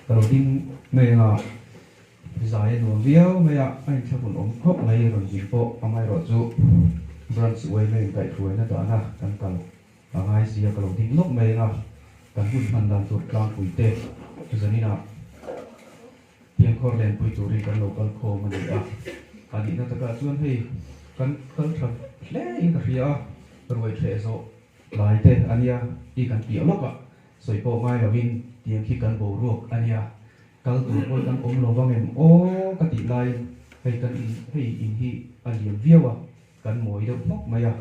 ka lo ding mai anga zai a nuam viau mai a, a inthlak hun awm khawp mai rawn zin pawh amaherawhchu branch uaina inkaihhruaina dahna kan kal. Ka ngai si a, ka lo ding lawk mai eng a, kan hun hman dan chu Tlangpui te chu zanina Thianghor Lenpui turin kan lo kal khawm a ni a, a nihna takah chuan hei kan kal tha hle in ka hria a, ruai theh zawh tlai te a nia i kan piah lawk a, sawi pawh ngai lo in tiang khi kan boruak a nia, kal tur pawl kan awm lo vang em aw ka tih laiin hei kan in hei in hi a liam viau a. Kan mawi deuh hmawk mai a,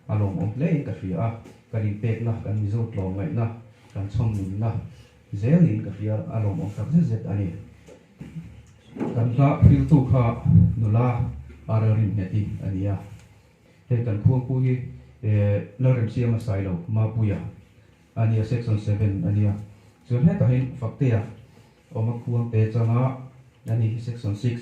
a lawmawm hle in ka hria a, kan inpekna, kan mizo tlawm ngaihna, kan chhawmnunna zel niin ka hria a, a lawmawm tak zet zet a ni. Kan hla hriltu kha nula a rilrim nghet hi a ni a, hei kan khuangpu hi Lalrem Siama Sailo Mapuia a nia, Section Seven a nia, chuan hetahin Fakteia awma khuangte changa a ni, Section Six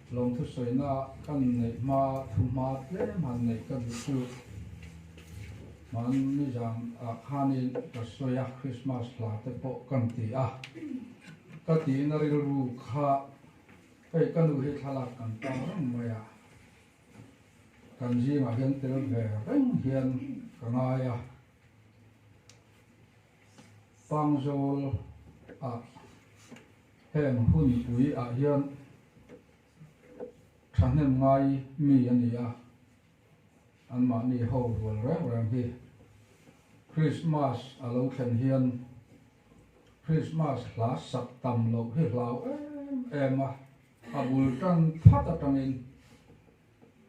Lawmthusawiina ka inneih hma thuhma tlem han neih ka duh chu hman nizam ah khanin ka sawi a, Christmas hla te pawh kan ti a. Ka tiin a rilru kha kei ka nu hi thlalak kan ta reng mai a, kan zingah hian tel ve reng hian ka ngai a. Pangzawl ah. Heng hun ui ah hian thahnem ngai mi a ni a, an mahni ho rual reng reng hi Krismas a lo thlen hian Krismas hla sak tam loh hi hlau em em a, a bul tan phat atangin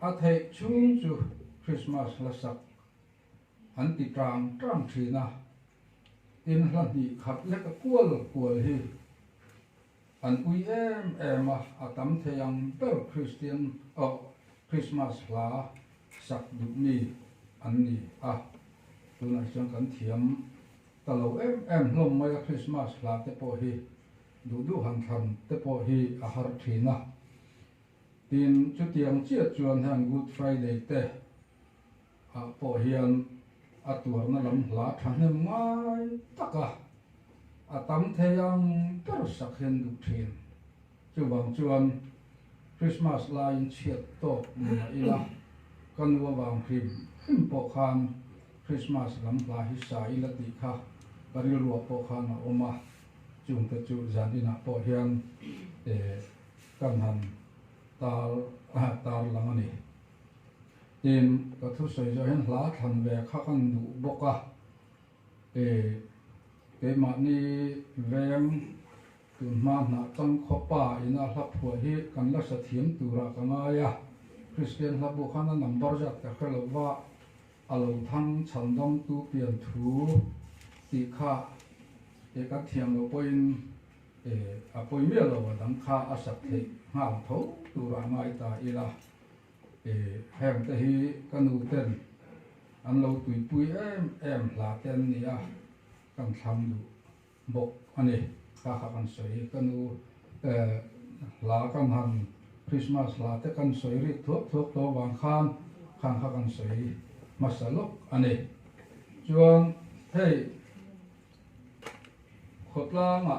a theih chhung chu Krismas hla sak An ti ṭang ṭang ṭhin a, tin hla hnih khat leka kual kual hi an ui em em a, a tam thei ang ber Kristian oh Krismas hla sak duh mi an ni a. Tunah chuan kan thiam ta lo em em hlawm mai a, Krismas hla te pawh hi duh duh han thlan te pawh hi a har ṭhin a, tin chutiang chiah chuan heng Good Friday te Kha pawh hian a tuarna lam hla thahnem ngai taka a tam thei ang ber sak hian duh thin. Chuvang chuan Krismas laiin chhiat tawk ni mah ila ka nu avang hrim hrim pawh khan Krismas lam hla hi sa ila tih kha ka rilruah pawh khan a awm a. Chungte chu zan inah pawh hian ka han tar lang a ni. Tiin ka thusawi zawh hian hla thlan ve kha kan duh bawk a, e, keimahni veng tun hma hnah chang khawpa in a hla phuah hi kan la hre thiam turah ka ngai a, Kristian hlabu khan a number zat ka hre lo va, a lo thang chhal damtu pian thu tih kha e kan thiam lo pawhin e a pawi miah lo a dang kha a sak theih nghal tho turah ngai ta ila. I heng te hi ka nu ten an lo tuipui em em hla te an ni a, kan thlam duh bawk a ni. Ka kha kan sawi ka nu hla kan han Christmas hla te kan sawi rik thuak thuak tawh vang khan khang kha kan sawi hmasa lawk a ni. Chuan hei Khawtlanga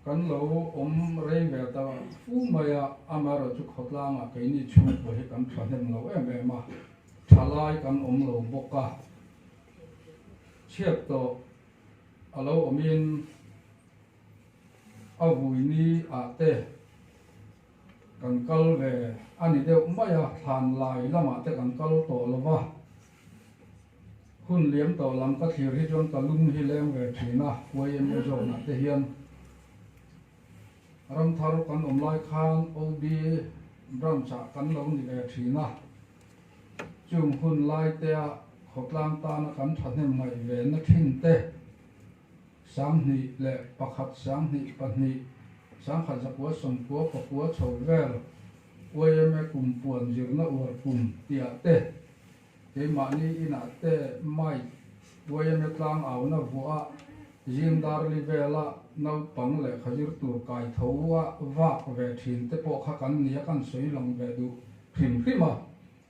kan lo awm rei ve ta fu mai a, amaherawh chu khawtlanga keini chhungkua hi kan thahnem lo em em a, tha lai kan awm lo bawk a, chhiat tawh a lo awmin. A vuini ah te kan kal ve a ni deuh mai a, Thlanlai lamah te kan kal tawh lo va, hun liam tawh lam ka thlir hi chuan ka lung hi leng ve thin a, YMA zawknah te hian Ramthar kan awm lai khan OB Branch ah kan lo ni ve thin a, chung hun lai tea khawtlang tana kan thahnem ngaih ve na thin te, Sanghnih leh pakhat sanghnih pahnih Sangkhat Zakua Sawmkua pakua chho vel Uaime kum puan zirna uar kum tiah te keimahni inah te Mike Uaime tlang auna vuah Zindarli vela naupang leh khazir tur kai tho a vak ve thin te pawh kha kan nia kan sawi lang ve duh hrim hrim a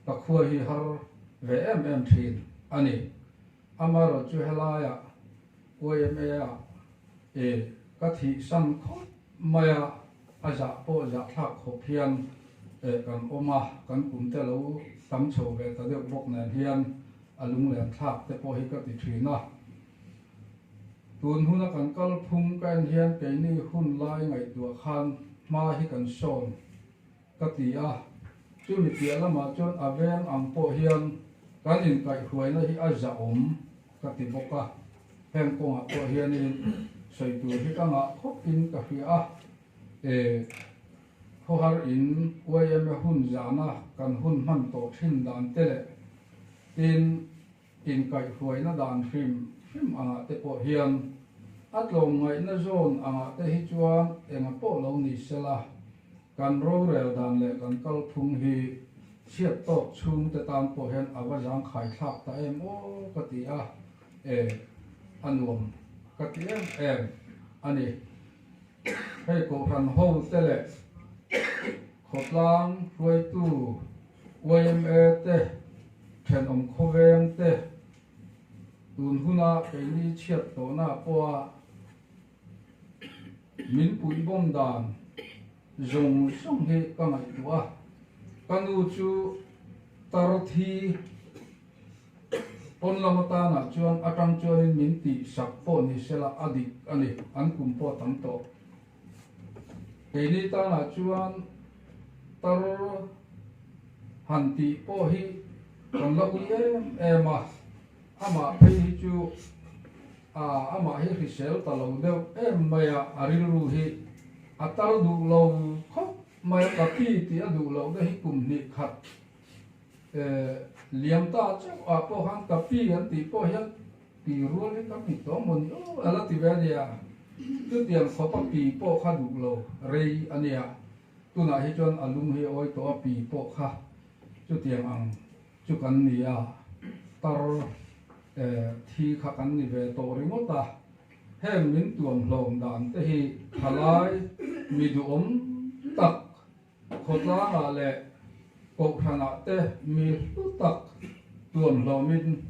ka khua hi har ve em em thin a ni Amarawt chu helaiah YMA a e ka thih sang khawp mai a, a zah pawh zah thlak khawp hian e kan awm a, kan kum te lo tam chho ve ta deuh bawk nen hian a lunglen thlak te pawh hi ka ti thin a. Tun huna kan kal phung ka en hian keini hun lai ngaihtuah khan hma hi kan sawn Ka ti a, chumi piah lamah chuan a veng ang pawh hian kan inkaihhruaina hi a zahawm ka ti bawk a, heng kawngah pawh hianin sawi tur hi ka ngah khawp in ka hria a, e khawhar in YMA hun zana kan hun hman tawh thin dan te leh tin Inkaihhruaina dan hrim hrim angah te pawh hian a tlawm ngaihna zawn angah te hi chuan enga pawh lo ni sela, kan rorel dan leh kan kal phung hi chhiat tawk chhungte tan pawh hian a va zangkhaithlak ta em aw ka ti a, e a nuam ka ti em em a ni. Hei kohhran ho te leh khawtlang hruaitu. YMA te, thenawm khawveng te, tun huna keini chhiat hlawhna pawha min puih bawm dan zawng zawng hi ka ngaihtuah a, ka nu chu Tarthi pawn lam atanah chuan atang chuanin min tihsak pawh ni sela a dik a ni, an kum pawh tam tawh. Keini tânah chuan tar han tih pawh hi kan la ui em em a, amah phei hi chu aah amah hi hrisel ta lo deuh em mai a, a rilru hi a tar duh lo khawp mai a, ka pi tih a duh loh na hi kum hnih khat eeh liam ta chauhah pawh khan ka pi an tih pawh hian Pi rual hi ka hmit tawng maw ni u a la ti ve a nia, chutiang sawpa pi pawh kha duh lo rei a nia, tunah hi chuan a lung hi a awi tawh a pi pawh kha chutiang ang chu kan ni a, tar eh thi kha kan ni ve tawh ringawt a, heng min tuam hlawm dan te hi thalai mi duhawm tak, Khawtlangah leh Kohhranah te mi hlu tak tuam hlawmin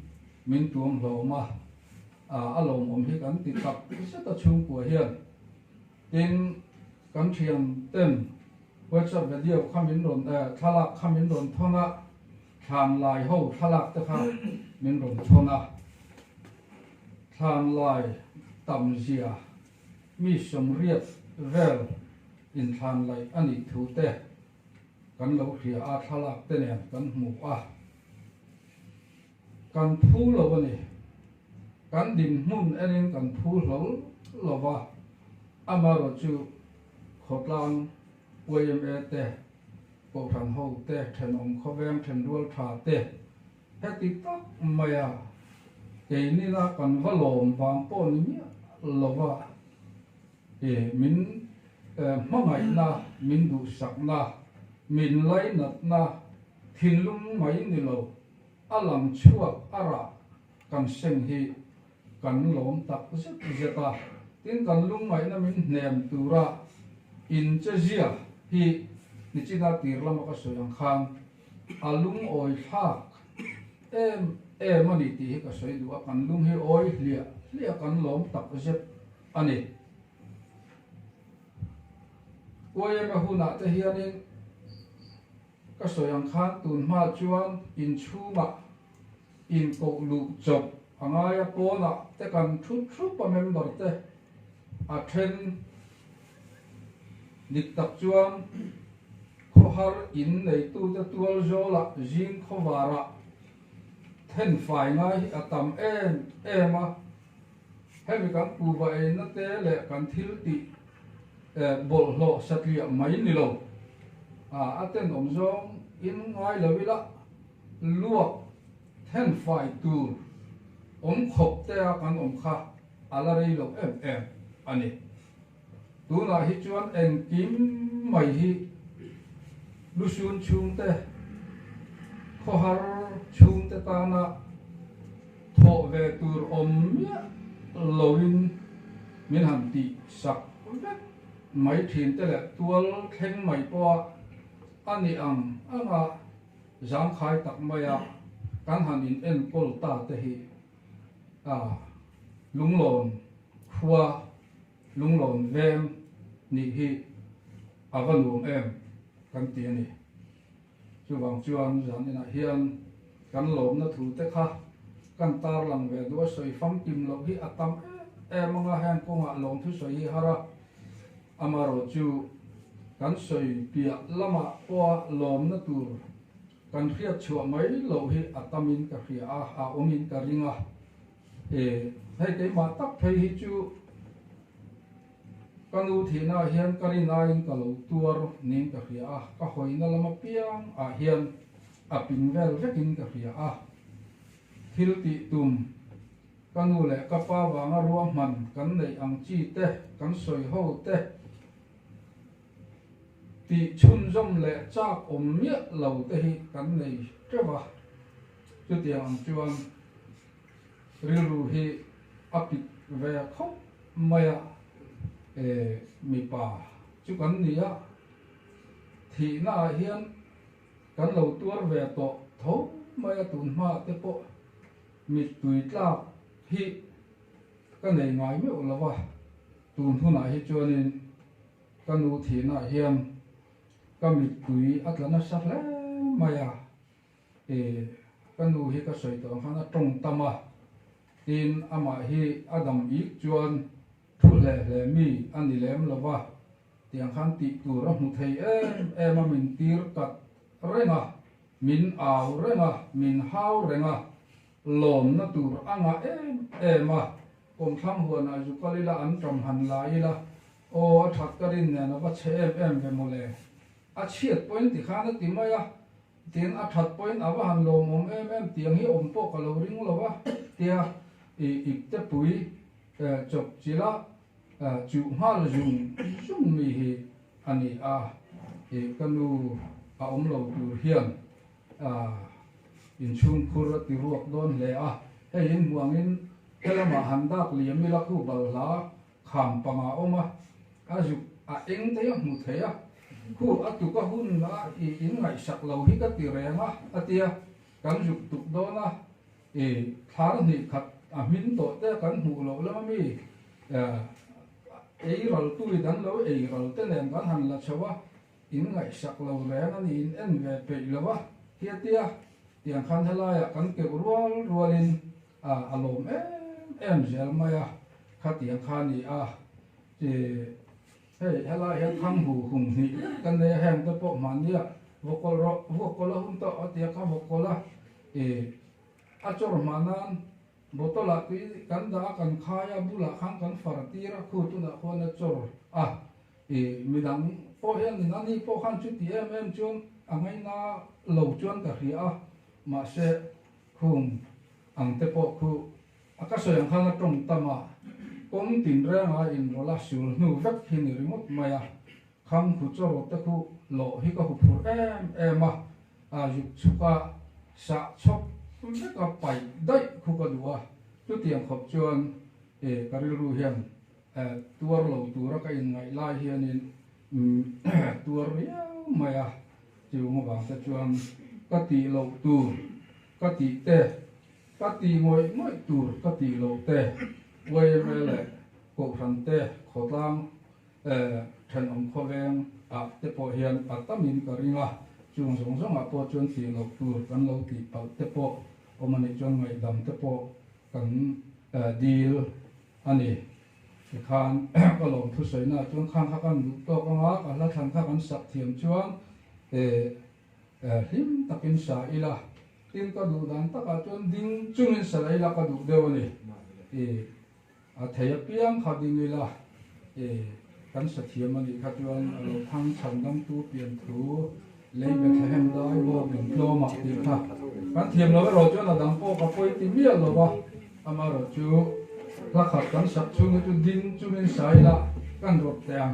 min tuam hlawm a, a lawmawm hi kan ti tak zet a chhungkua hian. Tin, kan thianten WhatsApp video kha min rawn, thlalak kha min rawn thawn a, thlanlai ho thlalak te kha min rawn thawn a, thlanlai tam zia. Mi sawmriat vel inthlan laih a nih thu te kan lo hria a, thlalak te nen kan hmu a. Kan phu lo a ni. Kan dinhmun enin kan phu hlawl lo va, amaherawh chu khawtlang YMA te, Kohhran ho te, thenawm khawveng, thenrual tha te, Heti tak mai a, kei nila kan va lawm vang pawh ni miah lova e, min hmangaihna, min duhsakna, min lainatna thinlung mai ni lo a lang chhuak a rah kan seng hi kan lawm tak zet zet a, tin kan lungngaihna min hnem tura inchezia hi tichinah tirlama ka sawi ang khan A lungawi thlak em em a ni tih hi ka sawi duh a, kan lung hi awi hliah hliah kan lawm tak zet a ni. Uaina hunah te hianin ka sawi ang khan tunhma chuan inchhungah, In koh luh chawp a ngai a pawnah te kan thu thup a member te a then dik tak chuan khawhar in neitu te tual zawla zing khawvar ah then fai ngai hi a tam em em a hemi kan kuva eina te leh kan thil tih bawlhhlawh satliah mai nilo a a tenawm zawng in ngai lo ila. Luak then fai tur awm khawp te a kan awm kha a la rei lo em em a ni. Tunah hi chuan engkim mai hi lu sun chhungte, khawhar chhungte tana thawh ve tur awm miah loin min han tih sak vek mai thin te leh tual thleng mai pawha a ni ang ang a. Zangkhai tak maia kan han in enkawl ta te hi a Lunglawn khua, Lunglawn veng nih hi a va nuam em kan ti a ni. Chuvang chuan zan inah hian kan lawmna thu te kha kan tarlang ve duh a, sawi famkim loh hi a tam em em anga heng kawngah lawmthu sawi hi har a, Amarawh chu kan sawi piah lama pawha lawmna tur kan hriat chhuah mai loh hi a tam in ka hria a, a awm in ka ring a. E, hei keimah tak phei hi chu ka nu thihnaah hian ka ri ngai in ka lo tuar niin ka hria a, ka hawina lam apiang ah hian a pin vel vek in ka hria a. Thil tih tum. Ka nu leh ka pa vanga ruahman kan neih ang chi te kan sawi ho te tih chhunzawm leh chak awm miah lo te hi kan nei teuh a. Chutiang ang chuan rilru hi a pit ve khawp mai a, e mipa chu kan ni a, thihna ah hian kan lo tuar ve tawh tho mai a tun hma te pawh. Mittui tlak hi ka nei ngai meuh lo va, tun hunah hi chuanin ka nu thihna ah hian ka mittui a tla nasa hle mai a, e ka nu hi ka sawi tawng khan a tawng tam a, tin amah hi a dam ik chuan thu hle hle mi a ni lem lo va tiang khan tih tur a hmu thei em em a min tir kat reng a. Min au reng a, min hau reng a, lawmna tur a ngah em em a, kawmthlang huanah zukal ila an ṭam han la ila, aw a ṭhat ka rin nen a va chhe em em ve maw le, a chhiat pawhin ti khan a ti mai a, tin a ṭhat pawhin a va han lawmawm em em tiang hi awm pawh ka lo ring lo a, tia i ipte pui chawp chilh a, Chu nghal zung zung mi hi a ni a, i ka nu a awm lo tur hian inchhungkhur a ti ruak dawn hle a, hei in hmuangin he lama han dak leh a Milakhu balhla kham panga awm a, a zuk a eng te a hmu thei a, khu a tuk a hun a i in ngaihsak lo hi ka ti reng a, a tia kan zuk tuk dawn a. I thar hnih khat a hmin tawh te kan hmuh loh lem ami? Aa, ei ral tui dan lo ei ral te nen kan han la chho a, in ngaihsak lo reng a ni in en ve peih lo a, hiatia tiang khan helai ah kan keuh rual rual in aa a lawm em em zel mai a, khatiang kha ni a, ih. Hei, helai hian thang bu hum hnih ka nei a, heng te pawh hmah nia, vawk kawl rawh, vawk kawl a hum tawh a ti a, ka vawk kawl a, ih, a chawr hmah nan bottle ah tui kan dah a kan khai a, bulah khan kan far tir a, khu tunah khuan a chawr a, ih, midang pawh hian nin a ni pawh khan chu ti em em chuan a ngaina lo chuan ka hria a, mahse khum ang te pawh khu A ka seng khan a tawng tam a, kawng tinrengah a in rawlh a, sul hnu vek hi ni ringawt mai a, kham khu chawrawt te khu lawh hi ka hu phur em em a, a zuk chhuk a, sah chhawp vek a, paih daih khu ka duh a, tlutiang khawp chuan e ka rilru hian e tuar lo tura ka in ngaih lai hianin umm tuar riau mai a, chuvang te chuan ka tih loh tur ka tih te, Ka ti ngawih ngawih tur ka ti loh te, Wayre leh Kohhran te khawtlang eh thenawm khawveng ah te pawh hian a tam in ka ring a, chung zawng zawng ah pawh chuan ti loh tur kan lo ti palh te pawh awm a nih chuan ngaihdam te pawh kan eh dil a ni. Tikhan ka lawm thusawi na ah chuan khang kha kan duh tawk ang a, ka hla thlang kha kan sak thiam chuan eh. Hlim takin sa ila, tin ka duh dan takah chuan ding chungin sa la ila ka duh deuh a ni. I, a thei apiang kha ding ila, i, kan sa thiam a nih kha chuan a lo thang chhan dang tu pian thu lei Bethlehem dai bawk in tlawm ah tih kha kan thiam lo eraw chuan a dang pawh ka pawi ti miah lo va. Ama rawh chu hla khat kan sak chhung hi chu ding chu min sa ila kan rawp teh ang.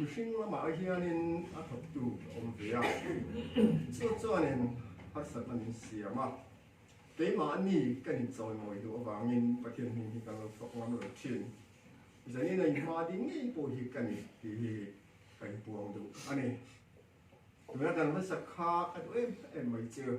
Mihring lamah hianin a thawktu a awm ve a, chu chuanin harsatna min siam a, keimah a ni ka in chawimawi duh avangin Pathian hming hi kan lo thawk ngam lo thin, zanin a inhma ding ngei pawh hi ka ni tih hi ka inpuang duh a ni. Tuna kan harsat kha a duh em em mai chu.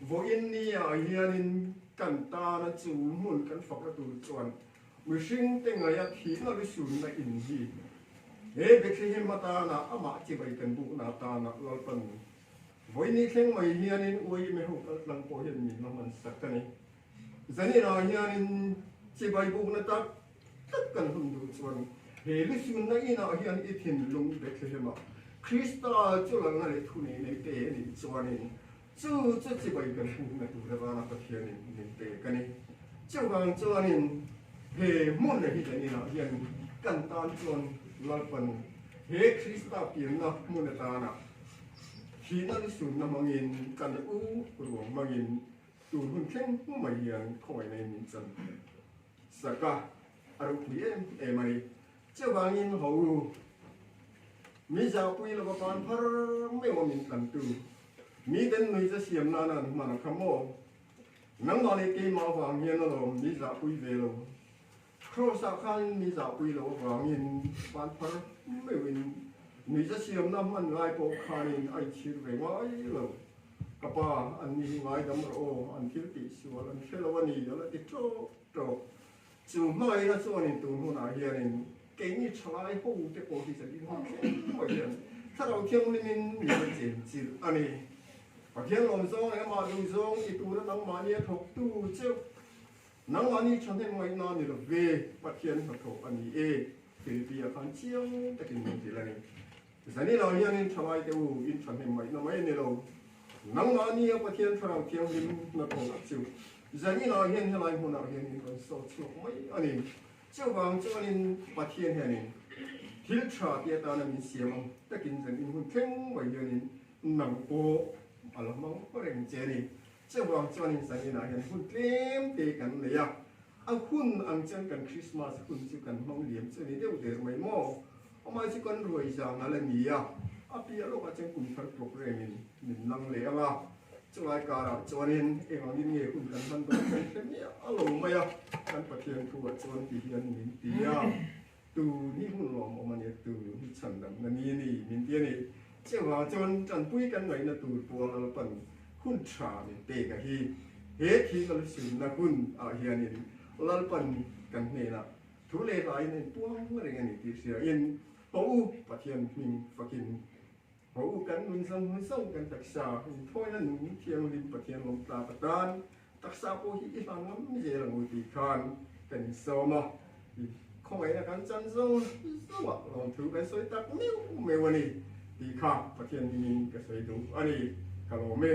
Vawh India hianin kan tana chu hmun kan faka tur chuan mihring te ngaia thihna lu sunna in hi he Bethlehem atana amah chibai kan bukna atana Lalpa Nui Vawini thleng mai hianin uaime ho kaltlang pawh hian min la hmansak a ni. Zanirah hianin chibai bukna tak tak kan hman duh chuan he lu sunna inah hian i thinlung Bethlehema Krista chulanga leh thuneih neih te nih chuanin chu chu chibai kan hmuhna tura zana Pathianin min pe ka ni. Chuvang chuanin he hmunna hi zaninah hian kan tan chuan Lalpanu he Krista pianna hmun atana thihna lu sunna hmangin kan u ruang hmangin Tur hun thleng pu mai hian khawmai nei nih chuan Saka a ruh pui em em a ni. Chuvangin Hawru mi Zahpui lova pan phar meuh a min tlantu mi Den Nui che siam nana an hman a kha maw? Nangmah leh keimah vang hian alawm mi Zahpui ve lo Kraws ah khan in mi zahpui loh avang in van phar meuh in nui za siamna hman ngai pawh khan in a inchhir ve ngai lo. Ka pa, an ni hi ngaidam rawh aw, an thil tih sual an hre lo a ni, a la ti trawk trawk. Chu hmangaihna chuan in tun hun ah hian in kei mi tha lai ho te pawh hi zan in hawk thleng pawh hian thlarau thianghlim in mi la chen chilh a ni. Pathian lawm zawng leh amah duh zawng i tura nangmah nia thawk tu cheuh Nangmahni thahnem ngaihna ni lo ve, Pathian hnathawh a ni e, Filipi a khan chiang takin min ti lai. Zanila hianin tha ngai teh u, in thahnem ngaihna mai a ni lo. Nangmah nia Pathian Thlarau Thianghlim hnathawh a chu Zanila hian helai hmunah hian min rawn sawi chhuak mai a ni. Chuvang chuanin Pathian hianin thil tha ti atana min siam ang takin zan in hun thleng mai hianin nang pawh a la hmang reng che a ni. Cheu ang chuanin sanginah hian hun tlem te kan nei a, a hun ang chuan kan Krismas hun chu kan hmang liam chu a ni deuh der mai maw? Amah chu kan ruai zanga la ni a, a piah lawkah chuan kum thar programme-in min lang leh ang a, chulai karah chuanin eng angin nge hun kan hman dawn kan hre miah lo mai a, kan Pathian thu-ah chuan ti hian min ti a. Tu ni hun lawm awm a nia tu ni chhan dam na ni ni min ti a ni. Chiah vang chuan tanpui kan ngaih na tur puang lalpan hun tha min pek a hi he thing a la sim na hun ah hian in lalpan kan hnen ah thu leh hlai in a in puang reng a ni tih hria in haw u Pathian hming fak in Haw u kan nunzam hun zauh kan taksa inthawiin a nung thianghlim Pathian lawm tlak atan taksa pawh hi i hlan ngam zel ang u tih khan kan insawm a, khawngaih na kan chan zawng zawngah lawmthu kan sawi tak meuh meuh a ni tih kha Pathian hmingin ka sawi duh a ni ka lawm e.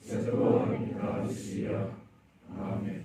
Jesova'n ka hre si a. Amen.